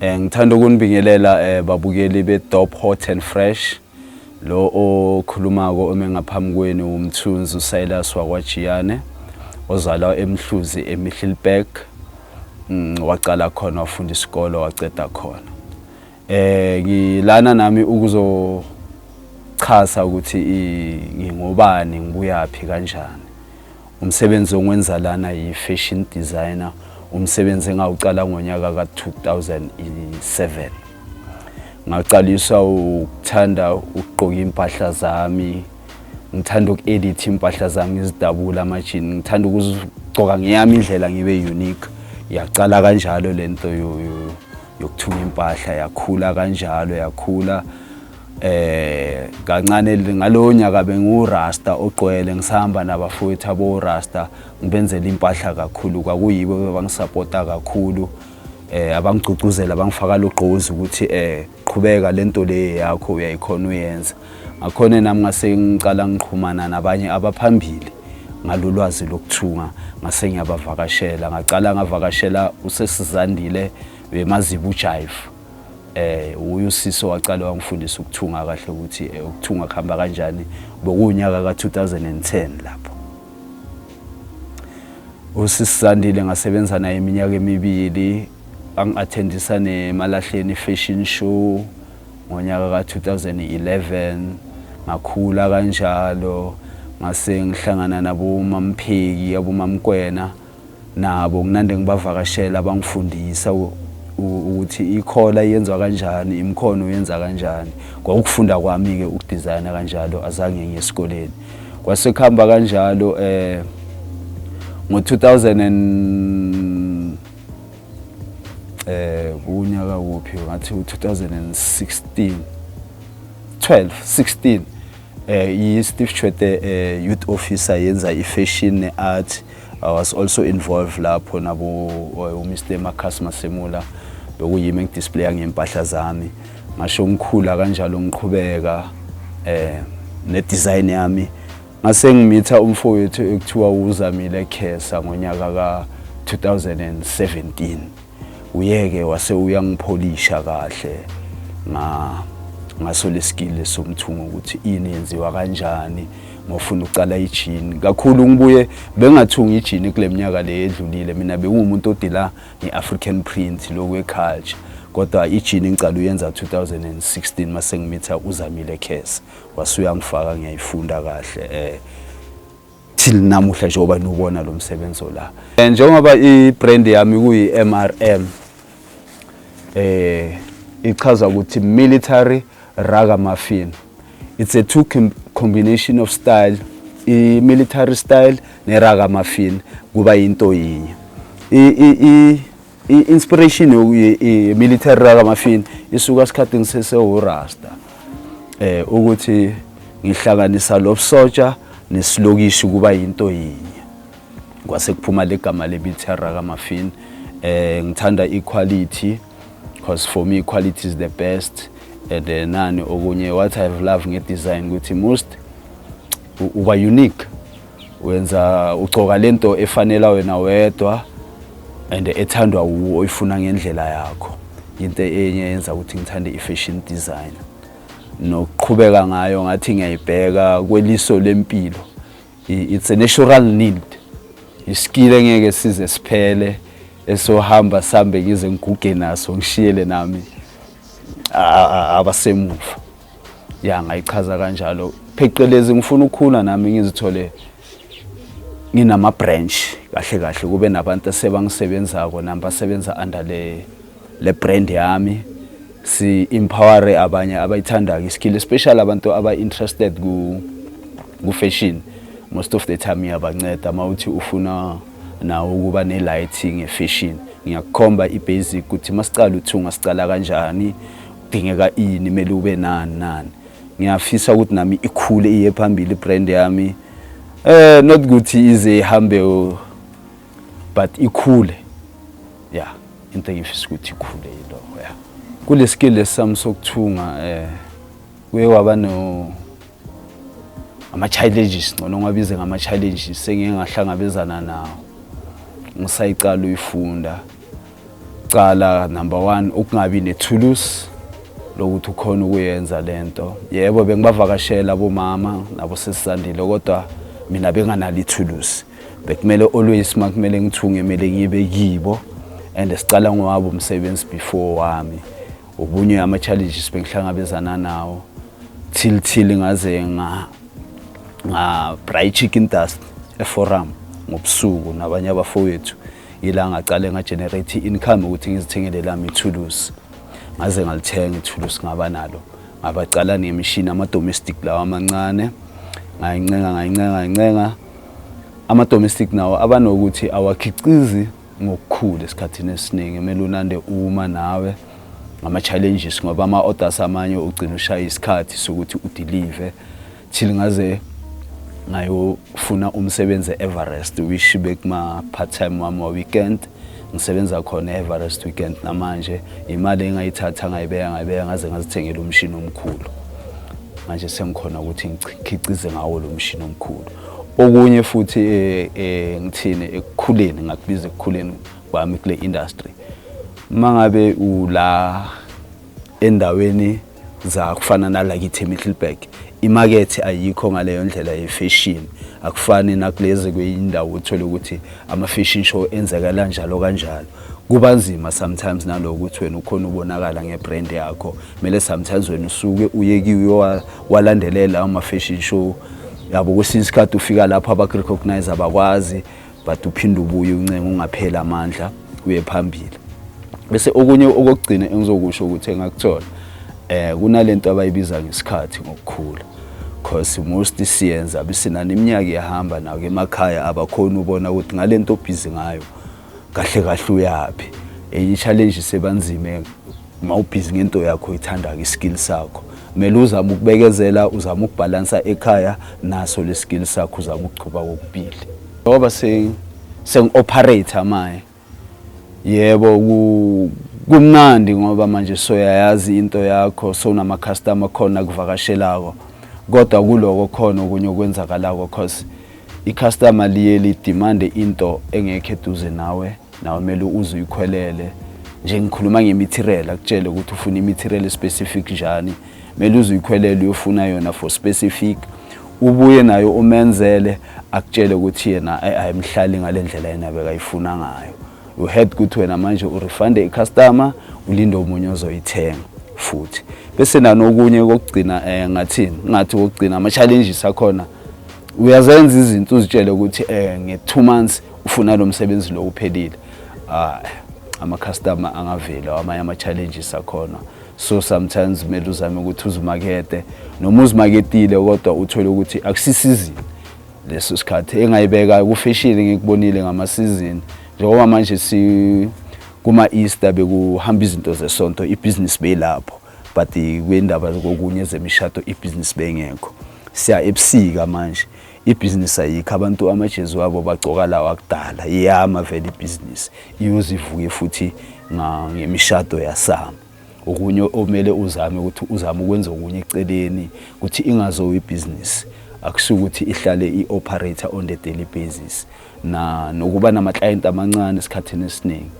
Eh, ngithanda ukunibingelela eh, babukeli be-dop hot and fresh lo okhulumako ome ngaphambi kwenu umthunzi usilas wakwajiyane ozalwa emhluzi emihlilberg mm, waqala khona wafunda isikole waceda khona eh ngilana nami ukuzochaza ukuthi ngingobani ngibuyaphi kanjani Umsebenzi ongenza lana yi-fashion designer, umsebenzi engawucala ngonyaka ka-2007. Ngaqaliswa ukuthanda ukugqoka iy'mpahla zami, ngithanda uku-editha iy'mpahla zami ngizidabula amajini, ngithanda ukuzigcoka ngeyami indlela ngibe unique. Yaqala kanjalo le nto yokuthunga impahla, yakhula kanjalo yakhula. eh kancane ngalowo nyaka bengiwurasta ogqwele ngisahamba nabafowethu abowurasta ngibenzela impahla kakhulu kwakuyibo bebangisapota kakhulu eh abangigcugcuzela bangifaka lugqozi ukuthi eh qhubeka lento le yakho uyayikhona uyenza ngakhona nami ngase ngicala ngiqhumana nabanye abaphambili ngalolwazi lokuthunga ngase ngiyabavakashela ngaqala ngavakashela usesizandile wemazibujayifu um wuye usisi owaqale wangifundisa ukuthunga kahle ukuthi eh, ukuthunga kuhamba kanjani bokuwunyaka ka-2010 lapho usisi sandile ngasebenza naye iminyaka emibili angi-athendisa nemalahleni fashion show ngonyaka ka-2011 ngakhula kanjalo ngase ngihlangana nabomampheki abomamkwena nabo nginande ngibavakashela bangifundisa ukuthi ikhola yenziwa kanjani imkhono yenza kanjani kwakufunda kwami-ke ukudizayina kanjalo azange ngiye esikoleni kwase kuhamba kanjalo eh ngo-2000 eh unyaka wuphi ngathi u-2016 12 16 eh i-Steve Chwete eh, youth officer yenza i-fashion ne-art I was also involved lapho nabo uh, uMr Marcus Masemula bekuyimi engidisplaya ngempahla zami ngasho ngikhula kanjalo ngiqhubeka eh ne design yami ngase ngimitha umfowethu ekuthiwa uzamile Khesa ngonyaka ka 2017 uyeke wase uyangipholisha kahle nga ngaso lesikile somthungo ukuthi ini yenziwa kanjani ngofuna ucala ijini kakhulu ngibuye bengathunga ijini kule minyaka le edlulile mina bengumuntu odila nge-african print loku eculture kodwa ijini ngicala uyenza 2016 mase ngimitha uzamile khesa wasuyangifaka ngiyayifunda kahle eh till namuhla njengoba niwubona lo msebenzi ola eh, njengoba i-brand yami kuyi-mrm eh ichaza ukuthi military raga muffin it's a two combination of style i-military style ne-raga muffin kuba yinto yinye I-inspiration ye-military kaMafini isuka esikhathini sesewurasta eh ukuthi ngihlanganisa lobusotsha nesilokishi kuba yinto yinye kwase kuphuma legama le-military kaMafini eh ngithanda equality because for me equality is the best and eh, nani okunye what i have love nge-design ukuthi most uba unique wenza ugcoka lento efanela wena wedwa and ethandwa wuwo oyifuna ngendlela yakho into enye yenza ukuthi ngithande i-fashion design nokuqhubeka ngayo ngathi ngiyayibheka kweliso lempilo it's a natural need isikile engeke size siphele esohamba sambe ngize ngiguge naso ngishiyele nami abasemuva ya ngayichaza kanjalo phecelezi ngifuna ukukhula nami ngizithole nginama branch kahle kahle kube nabantu sebangisebenzako nami basebenza under le le brand yami si empower abanye abayithandayo iskill especially abantu aba interested ku ku fashion most of the time iyabanceda mawuthi ufuna nawo ukuba ne lighting e fashion ngiyakukhomba i basic ukuthi masiqala uthunga siqala kanjani kudingeka ini kumele ube nani nani ngiyafisa ukuthi nami ikhule iye phambili ibrand yami eh not ukuthi ize ihambe but ikhule yeah into engifisa ukuthi ikhule yilo yeah kule skill lesami sokuthunga eh kuye waba no ama-challenges ngcono ngabize ngama-challenges sengike ngahlangabezana nawo ngisayiqala uyifunda cala number one ukungabi nethulusi lokuthi ukhona ukuyenza le nto yebo bengibavakashela abomama nabo sesisandile kodwa mina benganalo ithulusi bekumele always uma kumele ngithunge kumele ngibe kibo and siqala ngowabo umsebenzi before wami Ubunye ama challenges bengihlangabezana nawo till till ngaze nga nga braai chicken dust e forum ngobusuku nabanye abafowethu ila ngaqale nga generate income ukuthi ngizithengele lami ithulusi ngaze ngalithenga ithulusi ngaba nalo ngabaqala nemishini ama domestic lawa amancane ngayincenga ngayincenga ngayincenga ama domestic nawo abanokuthi awakhiqizi ngokukhulu esikhathini esiningi kumele unande uma nawe ngama-challenges ngoba ama-orders amanye ugcina ushaya isikhathi sokuthi udilive till ngaze ngayofuna umsebenzi e-everest wish bekuma-part time wami wa-weekend ngisebenza khona e-everest weekend namanje imali engayithatha ngayibeka ngayibeka ngaze ngazithengela umshini omkhulu manje sengikhona ukuthi ngikhicize ngawo lo mshini omkhulu Okunye futhi eh, eh, ngithini ekukhuleni ngakubiza ekukhuleni kwami kule industry uma ngabe ula endaweni za kufana nalakithi eMiddelburg imakethe ayikho ngaleyo ndlela yefashion akufani nakulezi kweyindawo uthole ukuthi ama-fashion show enzeka kanjalo kanjalo kuba nzima sometimes naloko ukuthi wena ukhona ubonakala ngebrand yakho kumele sometimes wena usuke uye kiyo walandelela ama-fashion show yabo kwesinye isikhathi ufika lapho abakurecognize abakwazi but uphinde ubuye uncenga ungapheli amandla uye phambili bese okunye okokugcina engizokusho ukuthi engakuthola eh kunalento abayibiza ngesikhathi ngokukhula because most siyenza bisinani iminyaka iyahamba nawo emakhaya abakhona ubona ukuthi ngalento obhizi ngayo kahle kahle uyaphi enye challenge sebanzime uma ubhizi ngento yakho oyithandayo iskill sakho kumele uzame ukubekezela uzame ukubhalansa ekhaya naso le skill sakho uzame ukuchuba kokubili ngoba sengi-operator maye yebo kumnandi ngoba manje soyayazi into yakho sonama-customer khona kuvakashelako kodwa kuloko khona okunye okwenzakalako cause i-customer liye lidimande into engekho eduze nawe nawe kumele uze uyikhwelele nje ngikhuluma ngemitirela akutshele ukuthi ufuna imitirela specific njani kumele uze uyikhwelele uyofuna yona for specific ubuye nayo umenzele akutshele ukuthi yena ayimhlali ngale ndlela yena bekayifuna ngayo you heard ukuthi wena manje urefunde icustomer ulinde omunye ozoyithenga futhi bese nanokunye kokugcina eh ngathini ngathi kokugcina ama challenges akhona uyazenza izinto uzitshele ukuthi eh nge 2 months ufuna lo msebenzi lo uphelile ah, ama-customer angaveli amanye ama-challenges akhona so sometimes kumele uzame ukuthi uzimakete noma uzimaketile kodwa uthole ukuthi akusisizini leso sikhathi engayibeka kufeshile ngikubonile ngamasizini njengoba manje si kuma-easter bekuhamba izinto zesonto ibhizinisi beyilapho but kwindaba kokunye zemishado ibhizinisi bengekho siya ebusika manje ibhizinisi ayikho abantu amajezi wabo bagcoka lawo akudala iyama vele ibhizinisi iyoze ivuke futhi ngemishado yasama okunye omele uzame ukuthi uzame ukwenza okunye eceleni ukuthi ingazowa ibhizinisi akusuke ukuthi ihlale i-operator on the daily basis na nokuba nama-client amancane esikhathini esiningi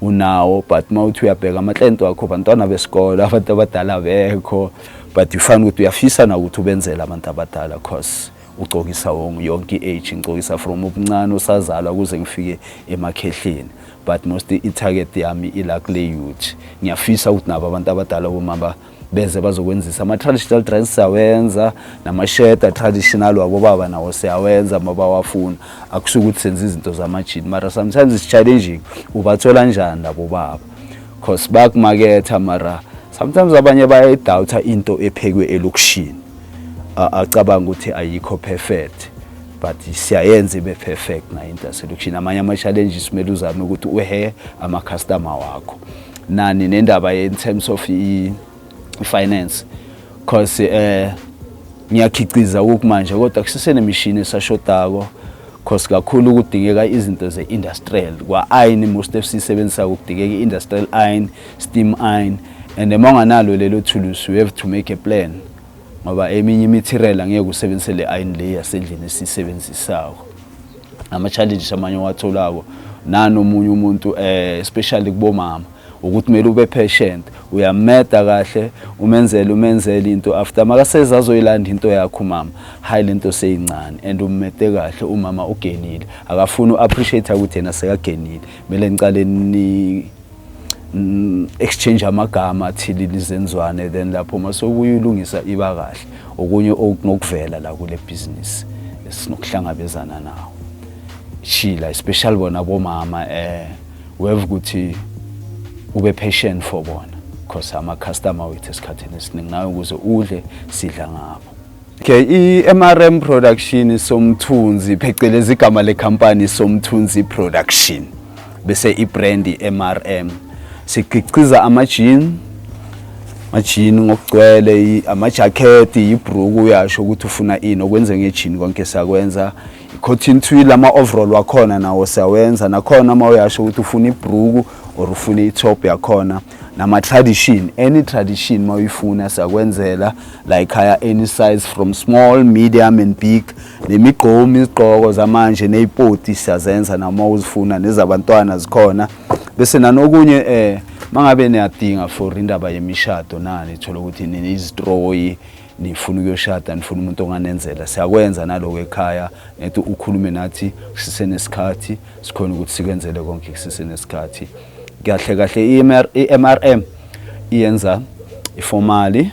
unawo but uma uthi uyabheka ama-client wakho bantwana besikole abantu abadala bekho but ufana ukuthi uyafisa na ukuthi ubenzele abantu abadala cause ugcokisa yonke i-age ngigcokisa from ubuncane usazalwa kuze ngifike emakhehleni but most i-target yami ila kule youth ngiyafisa ukuthi nabo abantu abadala bomama beze bazokwenzisa ama-traditional dress siyawenza namasheda traditional wabobaba nawo siyawenza uma bawafuna akusho ukuthi senza izinto zamajini mara sometimes is-challenging ubathola njani labo baba cause bakumaketha mara sometimes abanye bayayidawutha into ephekwe elokishini acabanga ukuthi ayikho perfect but siyayenza ibe perfect nayo into yaselokishini amanye ama-challenges kumele uzame ukuthi uhe ama-customer wakho nani nendaba in terms of i finance because eh ngiyakhiqiza kokumanje kodwa kusesenemishini esashodako because kakhulu kudingeka izinto ze-industrial kwa-iron most of siyisebenzisa kudingeka i-industrial iron steam iron and uma unganalo lelo thulusi you have to make a plan ngoba eminye imithirela ngeke usebenzise le iron le yasendlini esiyisebenzisako ama-challenges amanye owatholako nanomunye umuntu eh, especially kubomama ukuthi kumele ube patient uyameda kahle umenzele umenzele into after makaseze azoyilanda into yakho umama hayi lento seyincane and ummede kahle umama ugenile akafuni u-appreciate ukuthi yena sekagenile kumele nicale mm, exchange amagama athile lizenzwane then lapho uma sokuyilungisa iba kahle okunye okungokuvela la kule business sinokuhlangabezana nawo shila especially bona bomama eh weve ukuthi ube patient for bona because ama customer wethu esikhathini esiningi nayo ukuze udle sidla ngabo Okay, i-MRM Production Somthunzi phecelezi igama lekhampani Somthunzi Production bese i-brand i-MRM siqhiqiza ama-jean majini ngokugcwele amajakhethi yibruku uyasho ukuthi ufuna ini okwenze ngejini konke siyakwenza i-cotton twill ama-overall wakhona nawo siyawenza nakhona uma uyasho ukuthi ufuna ibruku or ufuna i-top yakhona nama tradition any tradition mawuyifuna siyakwenzela la ekhaya any size from small medium and big nemigqomi izigqoko zamanje nezipoti siyazenza noma uzifuna nezabantwana zikhona bese nanokunye eh mangabe niyadinga for indaba yemishado nani thola ukuthi nini izistroyi nifuna ukuyoshada nifuna umuntu onganenzela siyakwenza naloko ekhaya ngithi ukhulume nathi sisenesikhathi sikhona ukuthi sikwenzele konke sisenesikhathi kahle kahle i-MRM iyenza ifomali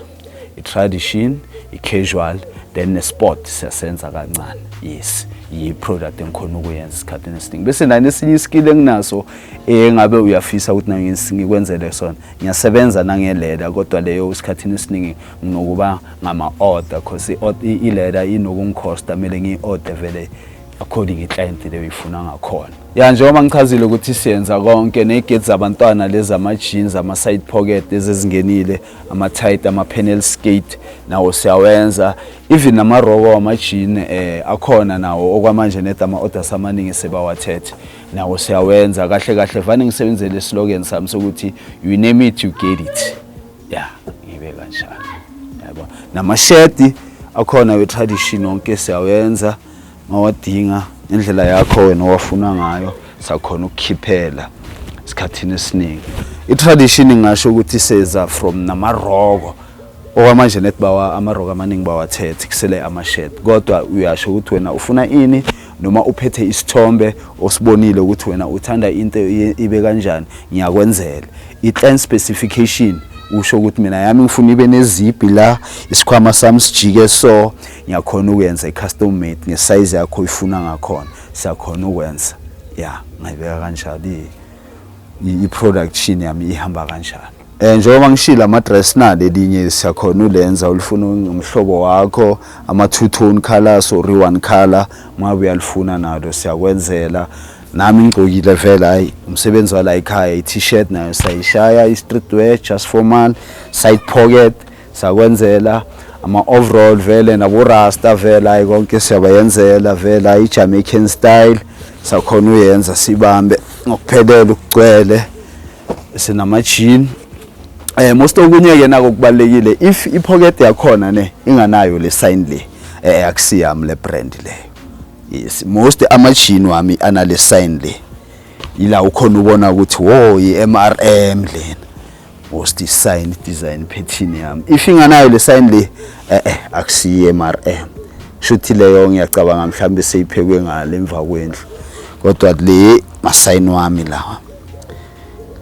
i-tradition i-casual then ne-sport siyasenza kancane yes yi-product engikhona ukuyenza esikhathini esiningi bese nani esinye iskill enginaso engabe uyafisa ukuthi nangikwenzele sona ngiyasebenza nangelela kodwa leyo esikhathini esiningi nginokuba ngama-order because ileta inokungikhosta kumele ngiyi-order vele according i-client leyo ifuna ngakhona ya njengoba ngichazile ukuthi siyenza konke negate zabantwana lezi ama-jeans ama-side pocket lezi ezingenile ama-tight ama-panel skate nawo siyawenza even namaroko wama-jean eh, akhona nawo okwamanje ned ama-orders amaningi sebawathethe nawo siyawenza kahle kahle vane ngisebenzele esilokeni sami sokuthi you name it you get it ya ibe kanjalo yabo namashedi akhona we-tradition wonke siyawenza mawadinga indlela yakho wena owafuna ngayo sakhona ukukhiphela esikhathini esiningi i-tradition ngasho ukuthi seza from namaroko okwamanje nethi bawa amaroko amaningi bawathethe kusele amashed kodwa uyasho ukuthi wena ufuna ini noma uphethe isithombe osibonile ukuthi wena uthanda into ibe kanjani ngiyakwenzela i-clan specification usho ukuthi mina yami ngifuna ibe nezibhi la isikhwama sami sijike so ngiyakhona ukuyenza i-custom made ngesize yakho ifuna ngakhona siyakhona ukwenza ya ngayibeka kanjalo i-production yami ihamba kanjalo Eh njengoba ngishilo ama dress nali elinye siyakhona ulenza ulifuna umhlobo wakho ama two tone colors or one color mabe uyalifuna nalo siyakwenzela nami ngigcokile vele hayi umsebenzi wala ekhaya i-t-shirt nayo sayishaya i-street wear just formal side pocket sakwenzela ama-overall vele naborasta vele hayi konke siyabayenzela vele hayi i-jamaican style sakhona uyenza sibambe ngokuphelele ukugcwele sinamajini eh most okunye ke nako kubalekile if i pocket yakhona ne inganayo le sign le eh akusiyami le brand le yes most ama jean wami anale sign le ila ukhona ubona ukuthi wo i MRM lena most sign design pattern yami if inganayo le sign le eh eh akusiyi MRM shuthi leyo ngiyacabanga mhlambe seyiphekwe ngale emva kwendlu kodwa le masign wami lawa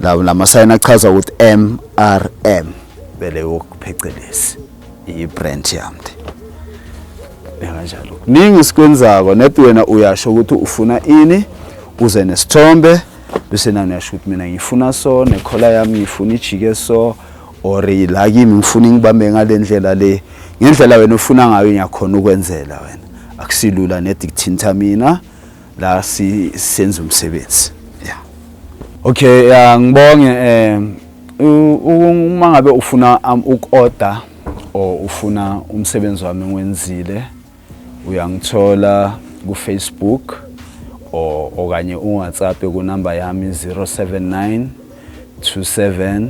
la lamasayini achaza ukuthi MRM bele wokuphecelezi i-brand yami kanjalo kuningi sikwenzako net wena uyasho ukuthi ufuna ini uze nesithombe bese nani uyasho ukuthi mina ngifuna so nekhola yami ngifuna ijike so or la kimi ngifuna ngibambe ngale ndlela le ngendlela wena ufuna ngayo ngiyakhona ukwenzela wena akusilula nedikthinta mina la sisenza umsebenzi yeah okay yeah ngibonge eh uma ngabe ufuna um, ukorder or ufuna umsebenzi wami ngiwenzile uyangithola ku Facebook or okanye uWhatsApp kunamba yami 079 27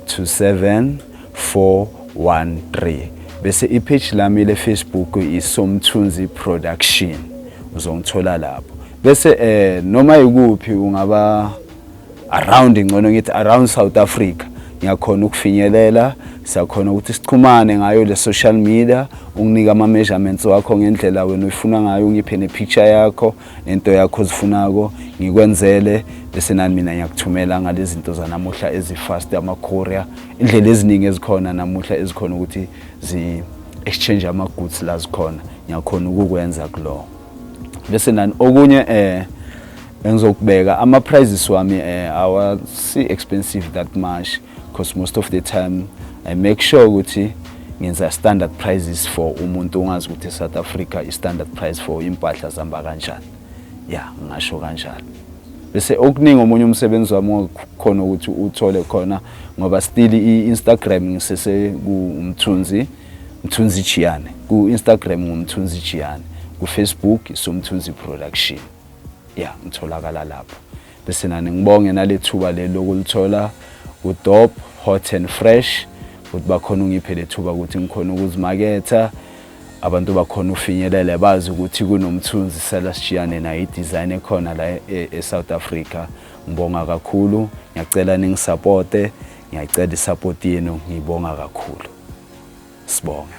27413 bese ipage lami le Facebook isomthunzi production uzongithola lapho bese eh noma ikuphi ungaba around ngcono ngithi around South Africa ngiyakhona ukufinyelela siyakhona ukuthi sichumane ngayo le social media unginike ama measurements wakho ngendlela wena uyifuna ngayo ungiphe ne picture yakho nento yakho zifunako ngikwenzele bese nani mina ngiyakuthumela ngalezi zinto zanamuhla ezifast ama-courier indlela eziningi ezikhona namuhla ezikhona ukuthi zi-exchange ama-goods la zikhona ngiyakhona ukukwenza kulowo bese nani okunye eh engizokubeka ama-prices wami eh awasi-expensive that much because most of the time i make sure ukuthi ngenza standard prices for umuntu ongazi ukuthi south africa i-standard price for impahla zihamba kanjani ya yeah, ngasho kanjalo bese okuningi omunye umsebenzi wami khona ukuthi uthole khona ngoba still i-instagram ngisese kumthunzi mthunzi jiyane ku-instagram ngumthunzi jiyane kufacebook somthunzi production ya yeah, ngitholakala lapho Besinani ngibonge nalethuba leli lokulithola udop hot and fresh ukuthi bakhona ungiphe lethuba ukuthi ngikhona ukuzimaketha abantu bakhona ufinyelele bazi ukuthi kunomthunzi sela sishiyane nayo i-design ekhona la e, e-south africa ngibonga kakhulu ngiyacela ningisapote ngiyacela isapoti yenu ngibonga kakhulu sibonge